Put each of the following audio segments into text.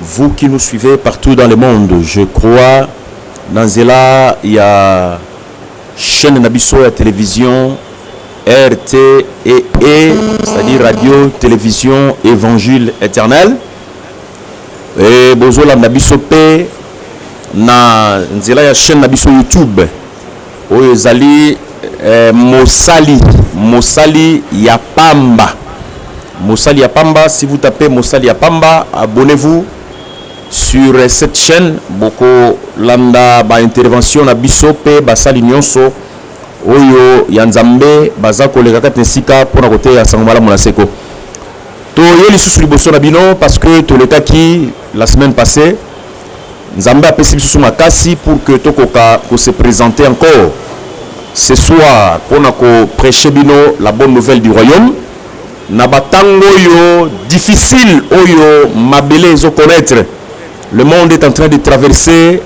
Vous qui nous suivez partout dans le monde je crois na nzela ya chaine na biso ya television RTEE c'est à dire radio television evangile eternel et bozolanda biso pe na nzela ya chaine na biso youtube Oyo ezali eh, mosali mosali ya pamba mosali ya pamba si vous tapez mosali ya pamba abonnez-vous sur eh, cette chaîne boko landa ba intervention na biso pe basali nyonso oyo ya nzambe baza koleka kati na esika mpo na koteya sango malamu na seko toye lisusu liboso na bino parce que tolekaki la semaine passée Nzambe apesi bisusu makasi pour que tokoka ko se presenter encore ce soir pona ko precher bino la bonne nouvelle du royaume na ba tango oyo difficile oyo mabele ezo connaitre. Le monde est en train de traverser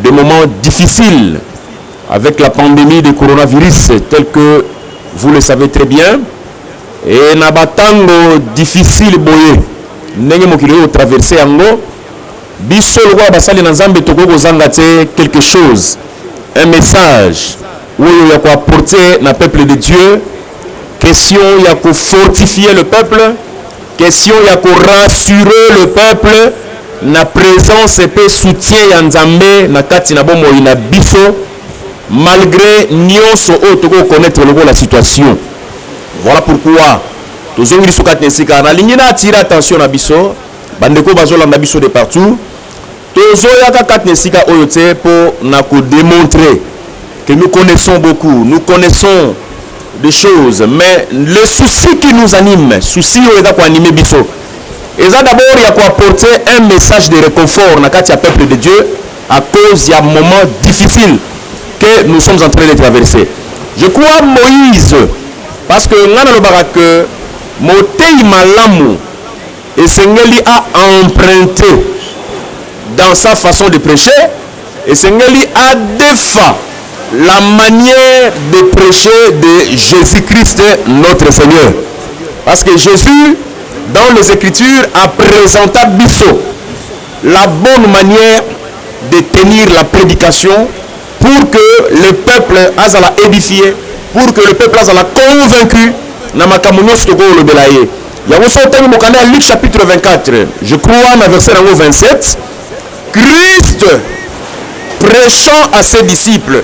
des moments difficiles avec la pandemie de coronavirus tel que vous le savez très bien. Et na ba tango difficile boye ndenge mokili oyo traverse yango biso lokola basali na Nzambe tokoki kozanga te quelque chose un message oyo ya ko apporter na peuple de Dieu question ya ko fortifier le peuple question ya ko rassurer le peuple na presence mpe soutien ya Nzambe na kati na bomoi na biso malgre nionso oyo tokoki ko connaitre lokola situation. Voilà pourquoi tozongi lisusu kati na esika nalingi na attirer attention na biso bandeko bazolanda biso de partout tozoyaka kati na esika oyo te mpo na kodemontre que nous connaissons beaucoup nous connaissons des choses mais le souci qui nous anime souci oyo eza koanime biso eza d'abord ya koapporter un message de réconfort na kati ya peuple de dieu à cause ya moment difficile que nous sommes en train de traverser. Je crois Moïse parce que nga nalobaka que moteyi malamu esengeli a emprunter dans sa façon de prêcher esengeli adefa la manière de prêcher de Jésus-Christ notre Seigneur. Parce que Jésus, dans les Écritures, a présenta biso la bonne manière de tenir la prédication pour que le peuple azala édifié, pour que le peuple azala convaincu na makambo nyonso tokolobela ye yango soki otangi mokanda ya luke chapitre 24 je crois na verset yango 27 christ prêchant à ses disciples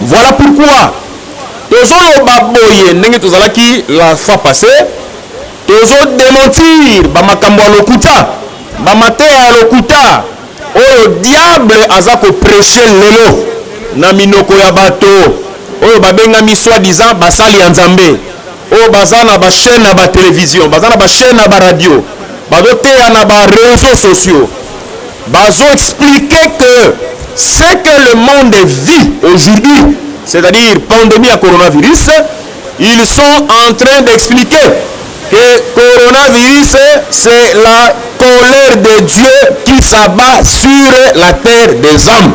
Voilà pourquoi tozo loba boye ndenge tozalaki la fois passe tozo dementir ba makambo ya lokuta ba mateya ya lokuta oyo diable aza ko precher lelo na minoko ya bato oyo babengami soit disant basali ya Nzambe. oyo baza na ba chaîne ya ba television baza na ba chaîne ya ba radio bazoteya na ba réseaux sociaux bazo expliquer que ce que le monde vit aujourd'hui c'est-à-dire pandémie ya coronavirus ils sont en train d'expliquer que coronavirus c'est la colère de Dieu qui s'abat sur la terre des hommes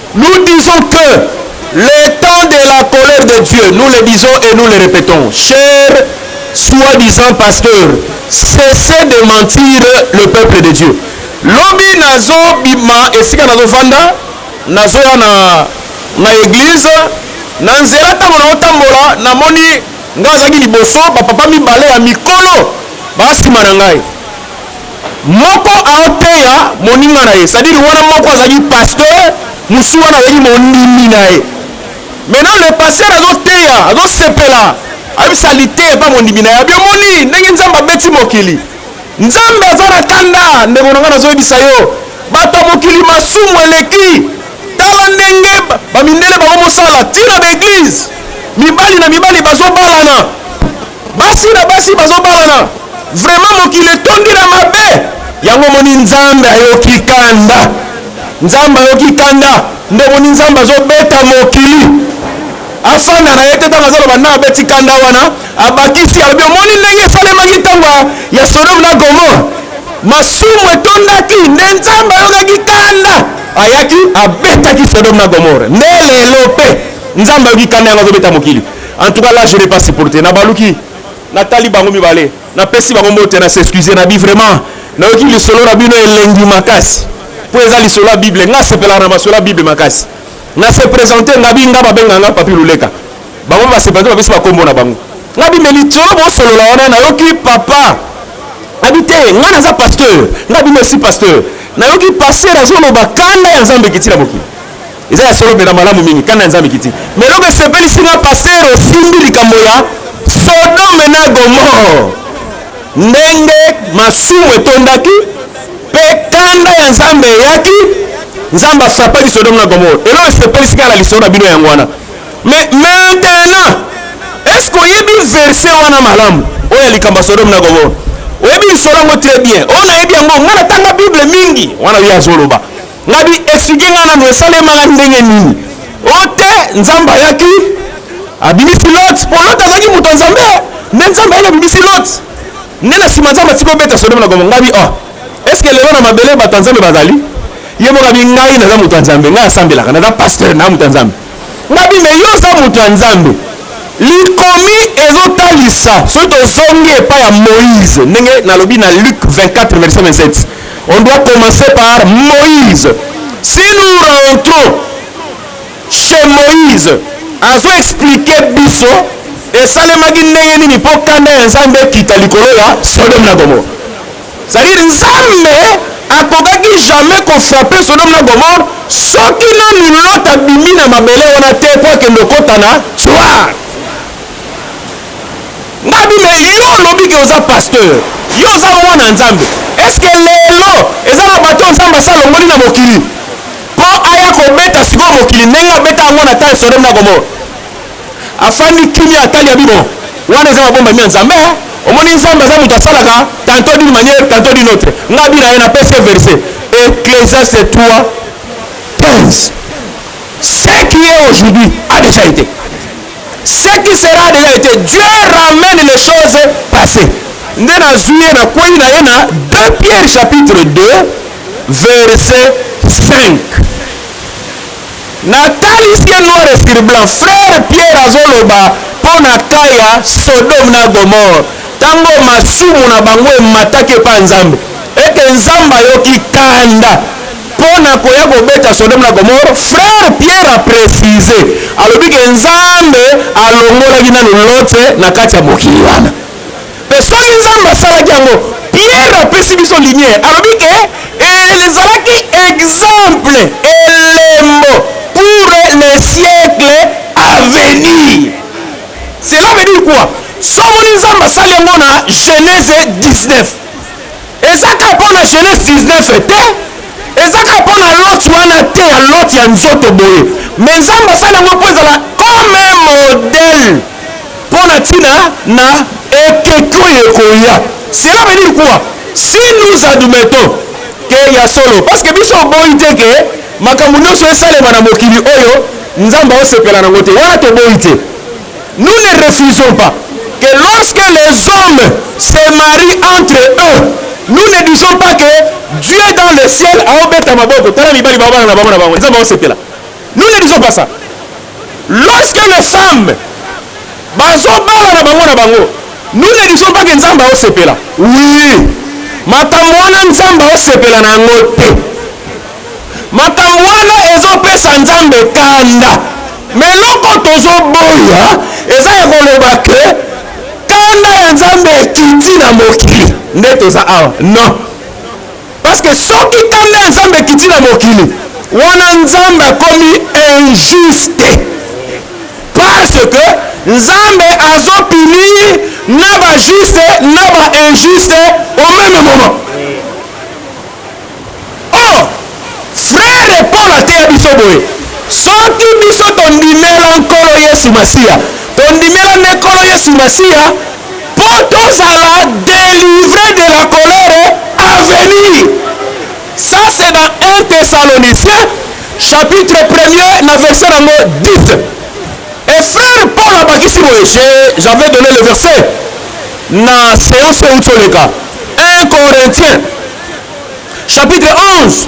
Nous disons que le temps de la colère de Dieu, nous le disons et nous le répétons, chers soi-disant pasteurs, cessez de mentir le peuple de Dieu. Lobi nazo bima esika nazo vanda, nazo ya na na église, na nzela tango na otambola, namoni nga azaki liboso, ba papa mibale ya mikolo ba sima na ngai. Moko aoteya moninga na ye, c'est-à-dire wana moko azali pasteur, mosusu wana azali mondimi na ye. Maintenant le pasteur azoteya, azosepela, ayebisa liteya epa mondimi na ye, abi omoni ndenge Nzambe abeti mokili, Nzambe aza na kanda, ndeko na ngai nazoyebisa yo, bato ya mokili masumu eleki, tala ndenge bamindele bakomosala, ti na ba eglise, mibali na mibali bazobalana. basi na basi bazobalana vraiment mokili etondi na mabe yango moni nzambe ayoki kanda nzambe ayoki kanda nde moni nzambe azobeta mokili afanda na ye te ntango azoloba ntango abeti kanda wana abakisi alobi omoni ndenge esalemaki ntango ya sodome na gomore masumu etondaki nde nzambe ayokaki kanda ayaki abetaki sodome na gomore nde lelo mpe nzambe ayoki kanda yango azobeta mokili En tout cas là je n'ai pas supporté na baluki natali bango mibale napesi bango mbote na s'excuse na bi vraiment nayoki lisolo na bino elengi makasi mpo eza lisolo ya bible ngai asepelaka na masolo ya bible makasi na se présente ngabi nga babenga nga papi loleka bango mpe basepelaka bapesi bakombo na bango nga bimbe litolo bosolola wana nayoki papa abi te nga naza pasteur nga bimbe si pasteur nayoki pasteur azoloba kanda ya nzambe ekiti na mokili Eza ya solo pena malamu mingi kanda ya Nzambe kiti. Mais eloko esepelisi nga pasteur osimbi likambo ya Sodome na Gomore. Ndenge masumu etondaki pe kanda ya Nzambe eyaki, Nzambe afrapaki Sodome na Gomore. Eloko esepelisi nga na lisolo na bino yango wana. Mais maintenant, est-ce que oyebi verset wana malamu? Oyo ya likambo ya Sodome na Gomore. Oyebi lisolo yango très bien. Oyo nayebi yango, nga natanga Bible mingi. Wana ye azoloba. Ngabi expliquer nga nanu esalema ndenge nini? Oh te, Nzambe ayaki abimisi Lot, po Lot azalaki moto ya Nzambe, nde Nzambe ayaki abimisi Lot. Nde na sima Nzambe atiki obeta Sodome na Gomorrhe. Ngabi oh, est-ce que lelo na mabele bato ya Nzambe bazali? Ye moko abi ngai naza moto ya Nzambe, ngai nasambelaka, naza pasteur, naza moto ya Nzambe. Ngabi mais yo oza mutu ya nzambe. Likomi ezo talisa soki tozongi epai ya Moïse ndenge nalobi na Luc 24 verset 27 on doit commencer par Moïse si nous rentrons chez Moïse azo expliquer biso esalemaki ndenge nini mpo kanda ya Nzambe ekita likolo ya Sodome na Gomore. Ça veut dire Nzambe akokaki jamais ko frapper Sodome na Gomorrhe soki nanu Lot abimi na mabele wana te po akende okota na Tsoar. Nga bi mais yo olobi ke oza pasteur, yo oza mwana Nzambe, est ce que lelo eza na bato Nzambe asi alongoli na mokili po aya kobeta sikoyo mokili ndenge abeta yango na temps ya Sodome na Gomorrhe? Afandi kimia atali ya bino. Wana eza ma bomba mia Nzambe hein. Omoni Nzambe aza mutu asalaka tantôt d'une manière tantôt d'une autre. Nga bina ye na pesi ye verset. Ecclesiaste 3 15. Ce qui est aujourd'hui a déjà été. Ce qui sera a déjà été. Dieu ramène les choses passées. Nde nazwi ye na kweli na ye na 2 Pierre chapitre 2 verset 5. Na talisi ye noir sur blanc frère Pierre azo loba po na cas ya Sodome na Gomorrhe tangu oyo masumu na bango emataki epa ya Nzambe et que Nzambe ayoki kanda po na koya ko beta Sodome na Gomorrhe frère Pierre a precise alobi que Nzambe alongolaki nanu Lotse na kati ya mokili wana. Mpe soki Nzambe asalaki yango, Piere apesi biso lumière, alobi ke ezalaki exemple, elembo pour le siècle à venir. Cela veut dire quoi? So omoni Nzambe asali yango na Genese 19, eza kaka mpo na Genese 19 te, eza kaka mpo na Lot wana te, ya Lot ya nzoto boye, mais Nzambe asali yango mpo ezala comme un modèle Mpo na ntina na ekeke oyo ekoya. Cela veut dire quoi? Si nous admettons que ya solo, parce que biso oboyi te que makambo nionso esalema na mokili oyo Nzambe aosepela nango te, wana toboyi te. Nous ne refusons pas que lorsque les hommes se marient entre eux, nous ne disons pas que Dieu dans le ciel aobeta maboko, tala mibali baobala na bango na bango, Nzambe aosepela. Nous ne disons pas ça. Lorsque nos femmes bazobala na bango na bango, nous ne disons pas que Nzambe aosepela. Oui, makambo wana Nzambe aosepela na yango te. Makambo wana ezopesa Nzambe kanda. Mais eloko tozoboya eza ya koloba ke kanda ya Nzambe ekiti na mokili nde toza awa. Non. Parce que soki kanda ya Nzambe ekiti na mokili, wana Nzambe akomi injuste. Parce que Nzambe azo punir na ba juste na ba injuste au même moment. Oh, frère Paul ateya biso boye, soki biso tondimela Nkolo Yesu Masiya, tondimela nde Nkolo Yesu Masiya Po tozala delivre de la colere a venir. Ca c'est dans un Thessaloniciens chapitre premier na verset nango 10. Et frère Paul abakisi boye, j'avais donne le verset na seance euti oleka 1 Corinthiens chapitre 11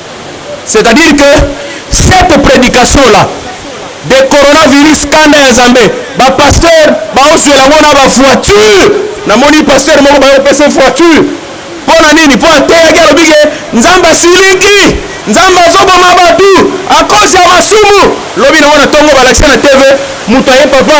C'est à dire que cette predication là de coronavirus kanda ya Nzambe ba pasteur baoswela yango na ba voiture namoni pasteur moko bayopesa voiture mpo na nini mpo ateyaki alobi ke nzambe asilingi nzambe azoboma bato akosi ya masumu lobi nango na ntongo balakisa na tv moto aye papa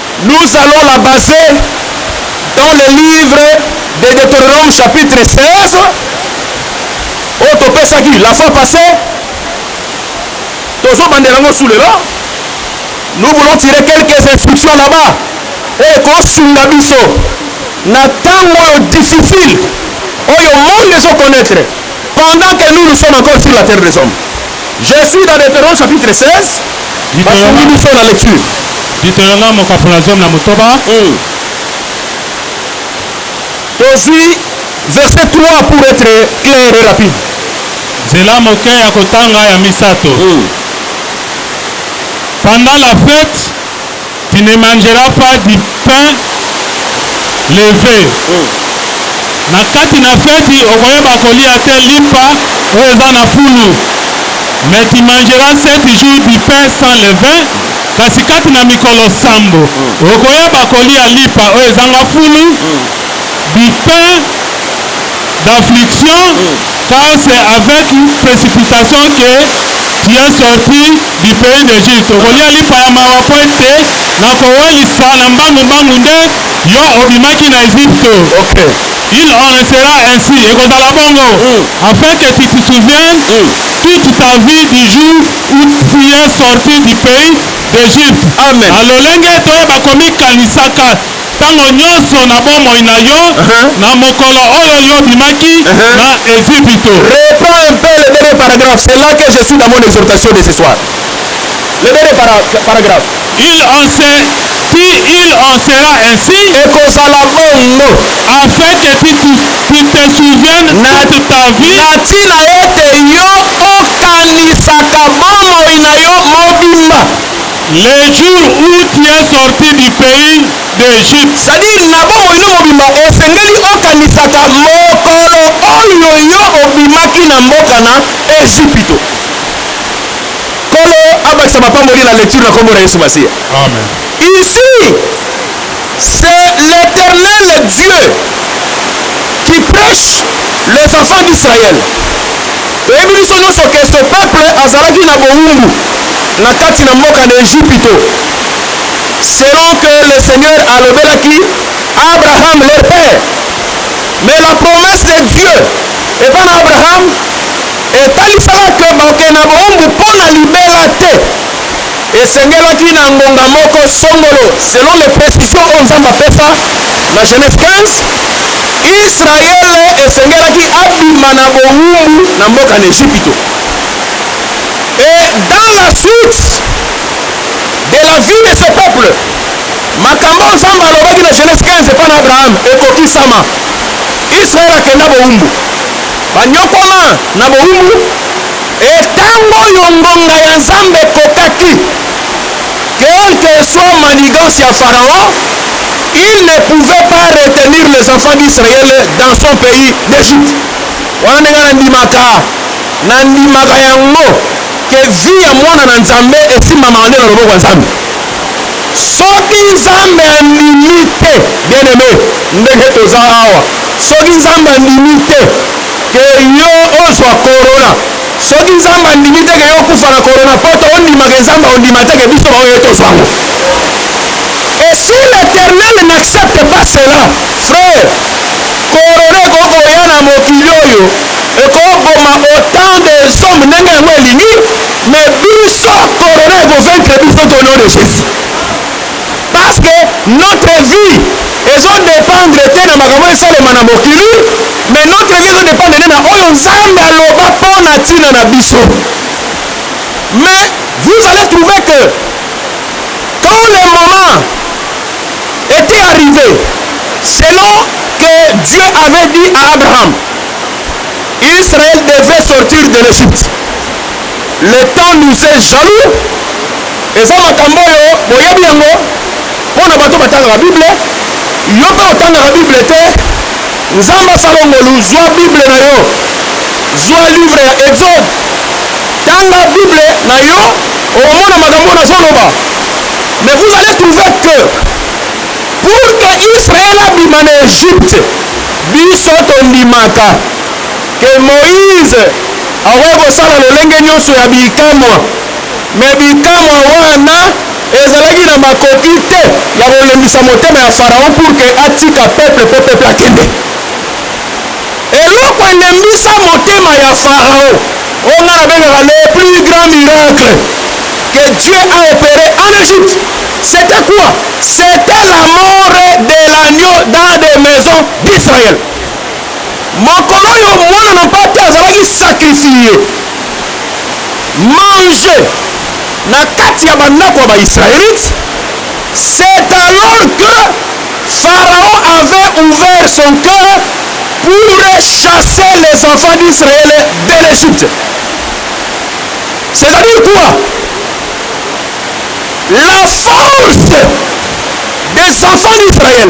Nous allons la baser dans le livre de Deuteronome chapitre 16 oyo topesaki la fois passée, tozobandela yango sous lela. Nous voulons tirer quelques instructions là-bas oyo ekosunga biso na ntango oyo difficile oyo monde ezo connaître pendant que nous nous sommes encore sur la terre des hommes. Je suis dans Deuteronome chapitre 16. Basungi biso na lecture. Deuteronome mokapo na zomi na motoba. Mm. Tozui verset 3 pour être clair et rapide. Zela moke ya kotanga ya misato. Mm. Pendant la fête Tu ne mangeras pas du pain leve. Na kati na feti okoyeba kolia te limpa oyo eza na fulu. Mais tu mangeras sept jours du pain sans levain, kasi kati na mikolo sambo okoyeba kolia lipa oyo ezanga fulu, du pain d'affliction car c'est avec précipitation que tu es sorti du pays d'Egypte. Tokolia lipa ya mawa mpo ete na kowelisa na mbangu mbangu nde yo obimaki na Egypte. Okay. Il en sera ainsi, ekozala bongo, mm. afin que tu te souviennes mm. toute ta vie du jour où tu es sorti du pays d'Egypte. Amen. Alolenge toyeba komikanisaka Tango nyonso na bomoi na yo, na mokolo oyo yo obimaki na Ezipito. Reprends un peu le dernier paragraphe, c'est là que je suis dans mon exhortation de ce soir. Le dernier para, paragraphe. Il en sait, ti il en sera ainsi Ekozala bongo afin que tu, tu, tu te souviennes Na- toute ta vie na ntina ete yo okanisaka bomoi na yo mobimba. Le jour où tu es sorti du pays d'Egypte. C'est à dire na bomoi no mobimba osengeli okanisaka mokolo oyo yo obimaki na mboka na Ejipito. Nkolo abakisa mapamboli na lecture na kombo na Yesu Masiya. Amen. Ici, C'est l'Eternel Dieu qui prêche les enfants d'Israël. Toyebi biso nyonso que ce peuple azalaki na bowumbu na kati na mboka na Ejipito. Selon que le Seigneur alobelaki Abraham leur père. Mais la promesse de Dieu epa na Abraham etalisaka que bakokende na bowumbu mpo na libela te. Esengelaki na ngonga moko songolo, selon les precisions oyo Nzambe apesa na Genese 15, Yisraele esengelaki abima na bowumbu na mboka na Ejipito. Et dans la suite de la vie de ce peuple, makambo oyo Nzambe alobaki na Genese 15 epai na Abraham ekokisama, Yisraele akenda bowumbu, banyokwama na bowumbu, E tango oyo ngonga ya Nzambe ekokaki, quel que soit manigance ya Pharaon, il ne pouvait pas retenir les enfants d'Israël dans son pays d'Egypte. Wana nde nga na ndimaka, na ndimaka yango que vie ya mwana na Nzambe esimbamaka nde na loboko ya Nzambe. Soki Nzambe andimi te, bien aime, ndenge toza awa, soki Nzambe andimi te, ke yo ozwa corona soki nzambe andimi te ke yo okufa na corona poto ondima ke nzambe ondima te ke biso baoyo tozwa yango et si l'éternel n'accepte pas cela frère corona ekoki koya na mokili oyo ekoboma autant de somme ndenge yango elingi mais biso corona ekovaincre biso to nom de jésus Parce que notre vie ezo dependre te na makambo oyo esalema na mokili mais notre vie ezo dependre nde na oyo Nzambe aloba mpo na ntina na biso. Mais vous allez trouver que quand le moment était arrivé, selon que Dieu avait dit à Abraham, Israël devait sortir de l'Égypte. Le temps nous est jaloux eza makambo oyo boyebi yango mpo na bato batangaka bible yo mpe otangaka bible te nzambe asala ngolu zwa bible na yo zwa livre ya exode tanga bible na yo okomona makambo nazoloba mais vous allez trouver que pour que israel abima na egypte biso tondimaka que Moïse akoki kosala lolenge nyonso ya bikamwa, mais bikamwa wana ezalaki na makoki te ya kolembisa motema ya Pharaon pour que atika peuple mpo peuple akende. Eloko elembisa motema ya Pharaon, oyo nga nabengaka le plus grand miracle que Dieu a opere en Egypte, c'était quoi? C'était la mort de l'agneau dans des maisons d'Israël. Mokolo oyo Mwana na Mpate azalaki sacrifier, manger, na kati ya bandako ya ba-Israelite, c'est alors que Pharaon avait ouvert son cœur pour chasser les enfants d'Israël de l'Egypte. C'est-à-dire quoi? La force des enfants d'Israël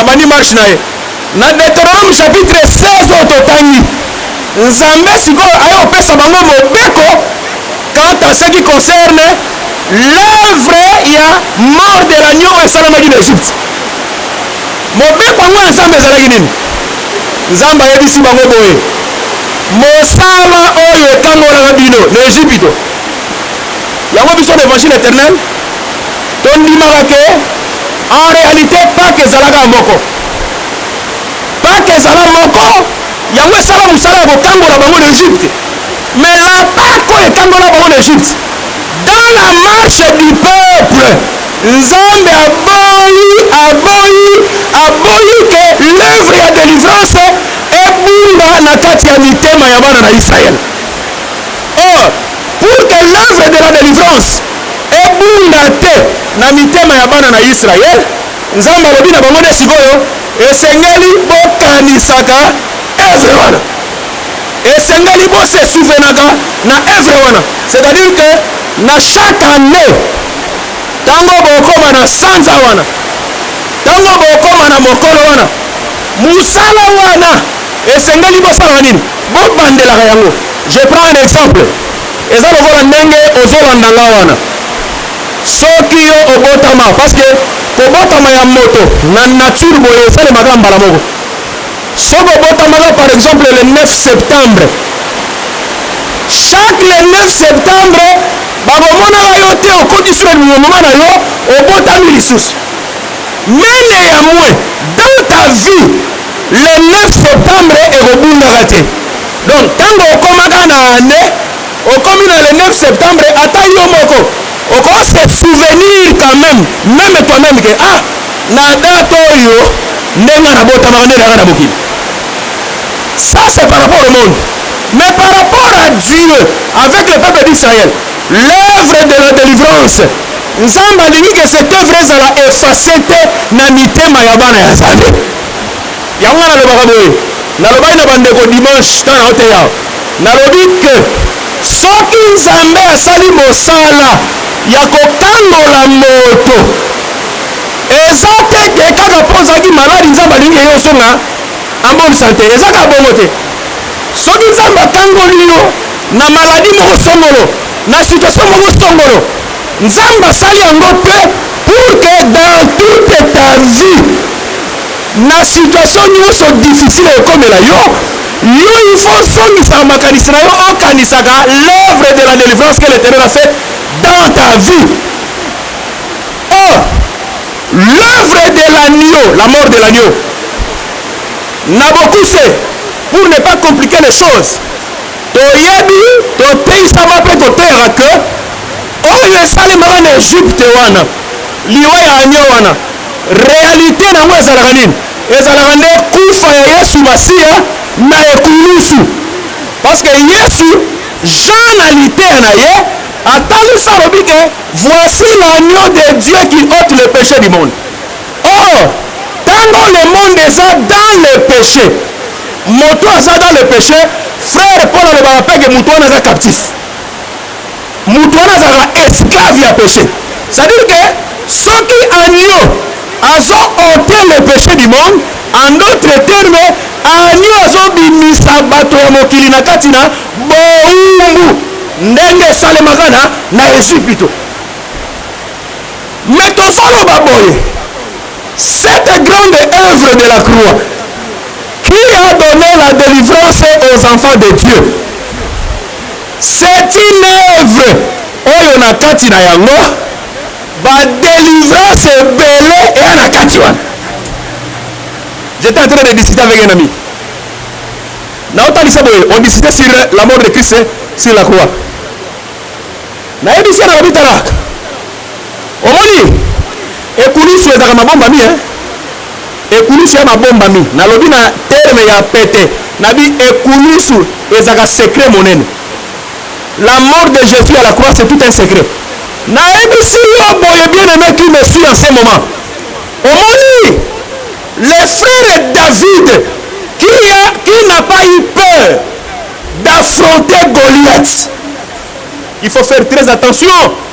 Abandi marche na ye. Na Deuteronome chapitre 16 oyo totangi, Nzambe sikoyo aye kopesa bango mobeko quant à ce qui concerne l'oeuvre ya mort de l'agneau oyo esalamaki na Egypte. Mobeko yango ya Nzambe ezalaki nini? Nzambe ayebisi bango boye, mosala oyo ekangolaka bino na Egypito, yango biso na Evangile eternel, Tondimaka que en realite Pake ezala kaka moko. Pake ezala moko, yango esala mosala ya kokangola bango na Egypte. Mais en Pake oyo ekangola bango na Egypte, dans la marche du peuple, Nzambe aboyi, aboyi, aboyi que l'oeuvre ya delivrance ebunga na kati ya mitema ya bana na Israël. Or, pour que l'oeuvre de la delivrance ebunga te na mitema ya bana na Yisraele. Nzambe alobi na bango nde sikoyo, esengeli bokanisaka evre wana, esengeli bosesouvenaka na evre wana, c'est-à-dire que na chaque année ntango bokoma na sanza wana, ntango bokoma na mokolo wana, mosala wana esengeli bosalaka nini? Bobandelaka yango. Je prends un exemple. Eza lokola ndenge ozo landa nga wana soki yo obotama parce que kobotama ya moto na nature boye esalemaka mbala moko soki obotamaka par exemple le 9 septembre chaque le 9 septembre bakomonaka yo te okoti sur le moment na yo obotami lisusu mais neyamoin dans ta vie le 9 septembre ekobungaka te Donc tango okomaka na annee okomi na le 9 septembre ata yo moko oko se souvenir quand même meme toi meme que ah na date oyo nde nga nabotamaka nde nanga na mokili ça c'est par rapport au monde mais par rapport à Dieu avec le peuple d'Israël l'œuvre de la délivrance nzambe alingi ke cette œuvre ezala efface te na mitema ya bana ya nzambe Yango nga nalobaka boye, nalobaki na bandeko dimanche ntango naoteya, nalobi que soki Nzambe asali mosala ya kokangola moto, eza te que kaka mpo ozalaki maladi Nzambe alingi que yo ozonga en bonne sante, eza kaka bongo te. Soki Nzambe akangoli yo na maladie moko songolo, na situation moko songolo, Nzambe asali yango mpe pour que dans toute ta vie, Na situation nionso difficile ekokomela yo, yo il faut ozongisaka makanisi na yo okanisaka l'oeuvre de la delivrance que l'Eternel a faite dans ta vie. Or, l'oeuvre de l'agneau, la mort de l'agneau, na bokuse, pour ne pas compliquer les choses, toyebi toteyisama mpe koteyaka que oyo esalemaka na Egypte wana liwa ya agneau wana Realite na yango ezalaka nini? Ezalaka nde kufa ya Yesu Masiya na ekulusu. Parce que Yesu, Jean na liteya na ye, atalisi alobi ke, Voici l'agneau de Dieu qui ote le peche du monde. Or, tango le monde eza dans le peche, moto aza dans le peche, frère Paul alobaka pe ke moto wana aza captif. Mutu wana azalaka esclave ya peche. C'est à dire que soki agneau azo oter le peche du monde, en d'autre terme agneau azo bimisa bato ya mokili na kati na bowumbu ndenge esalemaka na na Ezipito. Mais tozo loba boye cette grande œuvre de la croix qui a donné la delivrance aux enfants de Dieu C'est une oeuvre oyo na kati na yango ba delivrance ebele eya na kati wana. J'étais en train de discuter avec un ami. Naotalisa boye, on discutait sur la mort de Christ sur la croix. Nayebisi ye na lobi talaka Omoni? Ekulusu ezalaka mabombami, hein? Ekulusu ya mabombami. Nalobi na terme ya pete. Na bi ekulusu ezalaka secret monene. La mort de Jesus à la croix, c'est tout un secret. Nayebisi yo boye, bien-aime qui me suit en ce moment. Omoni? Le frère David, qui, a, qui n'a pas eu peur d'affronter Goliath. Il faut faire très attention.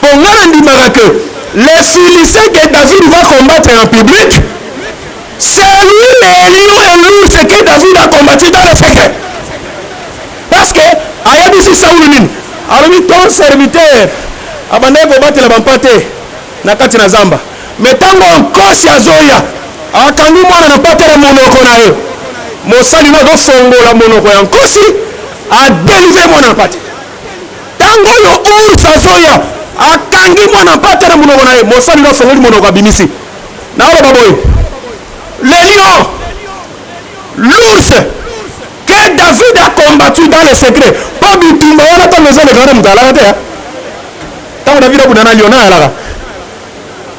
Po nga na ndimaka que les Philistins que David va combattre en public c'est lui les lions et l'ours que David a combattu dans le secret parce que ayebisi Saul nini alobi ton serviteur abandaki kobatela bampate na kati na zamba me ntango nkosi azoya akangi mwana na mpate na monoko na ye mosali na azofongola monoko ya nkosi adelivre mwana na mpate ntango oyo ours azoya akangi mwana mpate na monoko na ye mosali na ofongoli monoko abimisi naoloba boye le lion l'ours que david a combattu dans le secret mpo bitumba wana ntango ezolekana moto alaka te ntango david abunda na lion na alaka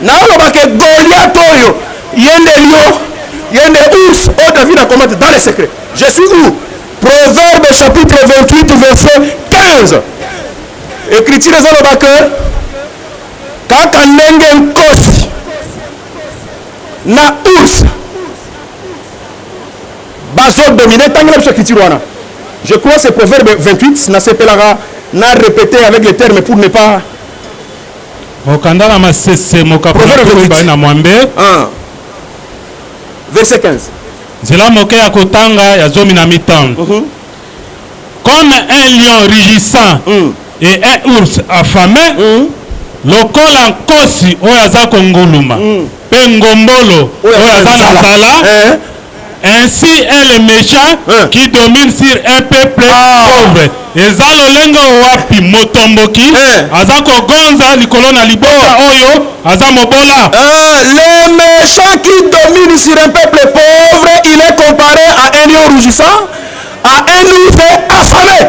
Naoloba ke Goliath oyo yende lion, yende ours oyo David akomate dans les secrets. Je suis où? Proverbe chapitre 28 verset 15. Ecriture ezoloba ke kaka ndenge nkosi na ours bazo domine tangela biso ecriture wana je crois c'est proverbe 28 nasepelaka na répéter avec les termes pour ne pas Mokanda na Masese mokapo na Proverbe ntuku 28. mibale na mwambe, Ah. Verset 15. nzela moke ya kotanga ya zomi na mitano. Mhm. Comme un lion rugissant Mm. et un ours affamé, Mm. lokola nkosi oyo aza konguluma mpe ngombolo Oyo oyo aza aza na na nzala. nzala Eh. Ainsi est le mechant eh. qui domine sur un peuple ah. pauvre. eza lolenge wapi motomboki eh. aza kogonza likolo na libota oh. oyo aza mobola eh, le méchant qui domine sur un peuple pauvre il est comparé à un lion rougissant à un ours affamé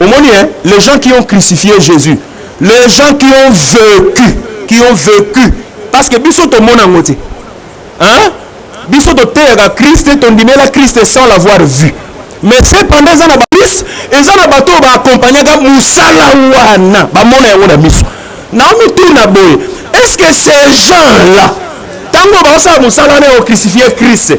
Omoni hein, les gens qui ont crucifié Jesus, les gens qui ont vecu, qui ont vecu parce que biso tomona yango te hein? biso toteyaka kriste tondimela kriste sans l'avoir vu mais cependant eza na bakriste eza na bato oyo baakompagnaka mosala wana bamona yango na miso naomituna boye est ce que ces gens là ntango baosala mosala wana ya ocrucifie kriste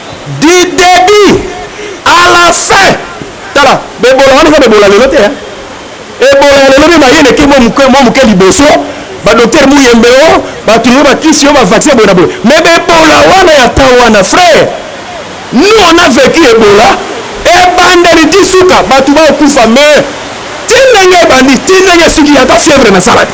du debut à la fin tala bebola wana eza bebola lelo te hein? ebola ya lelo nde baye leki mwa moke liboso badoktere muyembe o oh, batululo bakisi yo bavaccin boye na boye me bebola wana ya temps wana frère nous on a vécu ebola ebandeli ti suka bato baokufa me ti ndenge ebandi ti ndenge esiki ata fièvre nasala te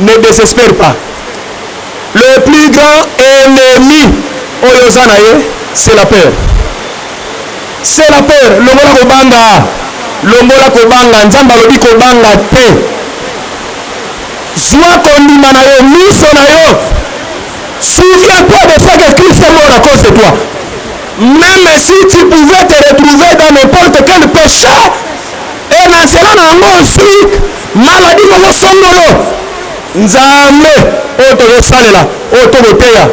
Ne desespere pas. Le plus grand ennemi oyo oza na ye c'est la peur. C'est la peur. Longola kobanga. Longola kobanga. Nzambe alobi kobanga te. Zwa kondima na yo, miso na yo. Souviens-toi de ce que Christ est mort à cause de toi. Même si tu pouvais te retrouver dans n'importe quel péché, et na nzela na yango ozwi Maladie moko songolo. Nzambe oyo tozo salela, oyo to ko teya,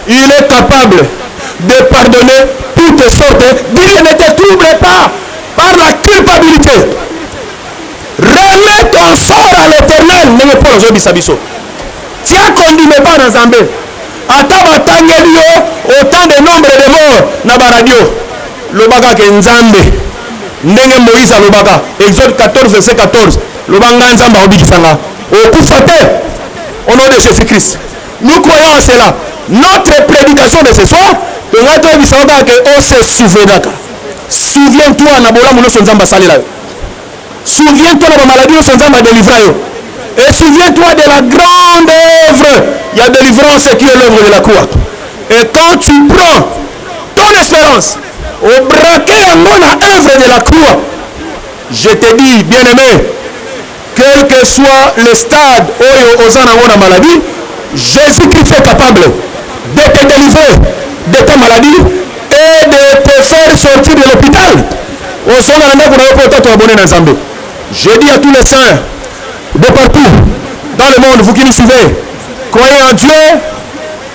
il est capable de pardonner toutes sortes Dieu ne te trouble pas par la culpabilite. Remets ton sort à l'Eternel ndenge Paul azo yebisa biso. Tia kondima epa na Nzambe. Ata ba tangeli yo autant de nombre de morts na ba radio, loba kaka ke Nzambe. ndenge moïse alobaka exode 14 verset 14 loba ngai nzambe akobikisa nga okufa te au nom de jésus christ nous croyons en cela notre prédication de ce soir tongai toyebisa yo kaka ke ose oh, souvenaka souviens toi na bolamu nyonso nzambe asalela yo souviens toi na bamaladi nyonso nzambe adelivra yo et souviens toi de la grande œuvre ya délivrance qui est l'œuvre de la croix et quand tu prends ton espérance O braquer yango na œuvre de la croix. Je te dis, bien-aimé, quel que soit le stade oyo oza nango na maladie, Jésus-Christ est capable de te délivrer de ta maladie et de te faire sortir de l'hôpital. Ozonga na ndako na yo mpo otatwa bone na Nzambe. Je dis à tous les saints de partout dans le monde, vous qui nous suivez, croyez en Dieu,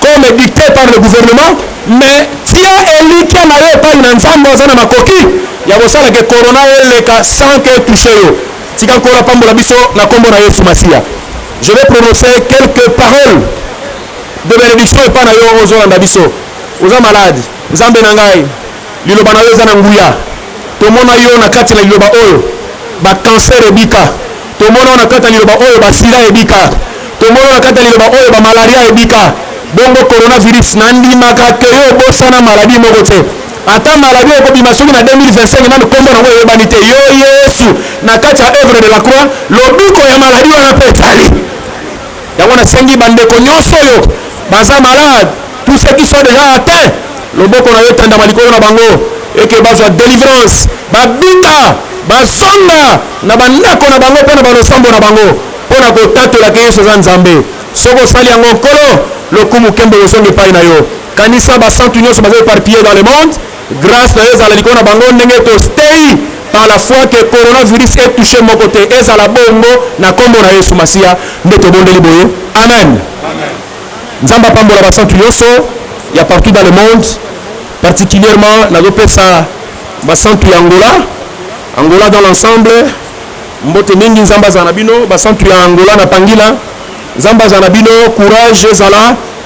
comme dicte par le gouvernement mais tia elikya na yo epai na nzambe aza na makoki ya kosala ke corona eleka sans que touche yo tika nkolo apambola biso na nkombo na yesu masiya je vais prononcer quelques paroles de benediction epai na yo ozolanda biso oza malade nzambe na ngai liloba na yo eza na nguya tomona yo na kati na liloba oyo bakanser ebika Tomona na kati ya liloba oyo basida ebika, tomona na kati ya liloba oyo ba malaria ebika, bongo coronavirus. Nandimaka que yo obosana maladie moko te, ata maladie ekobima soki na 2025 nanu kombo nango eyebani te. Yo Yesu, na kati ya oeuvre de la croix, lobiko ya maladie wana pe ezali. Yango nasengi bandeko nyonso oyo baza malade, tous ceux qui sont déjà atteints, loboko na yo etandama likolo na bango eke bazwa delivrance, babika, bazonga na bandako na bango mpe na balosambo na bango mpo na kotatola ke Yesu aza Nzambe. Soki osali yango, Nkolo, lokumu kembo kozonga epai na yo. Kanisa basantu nyonso baza eparpille dans le monde Grace na yo ezala likolo na bango ndenge ekostei par la foi que coronavirus est touché moko te ezala bongo na kombo na Yesu Masiya nde tobondeli boye amen. Nzambe apambola basantu nyonso ya partout dans le monde particulièrement nazopesa basantu ya Angola Angola dans l'ensemble mbote mingi nzambe azala na bino basantu ya Angola na Pangila nzambe azala na bino courage ezala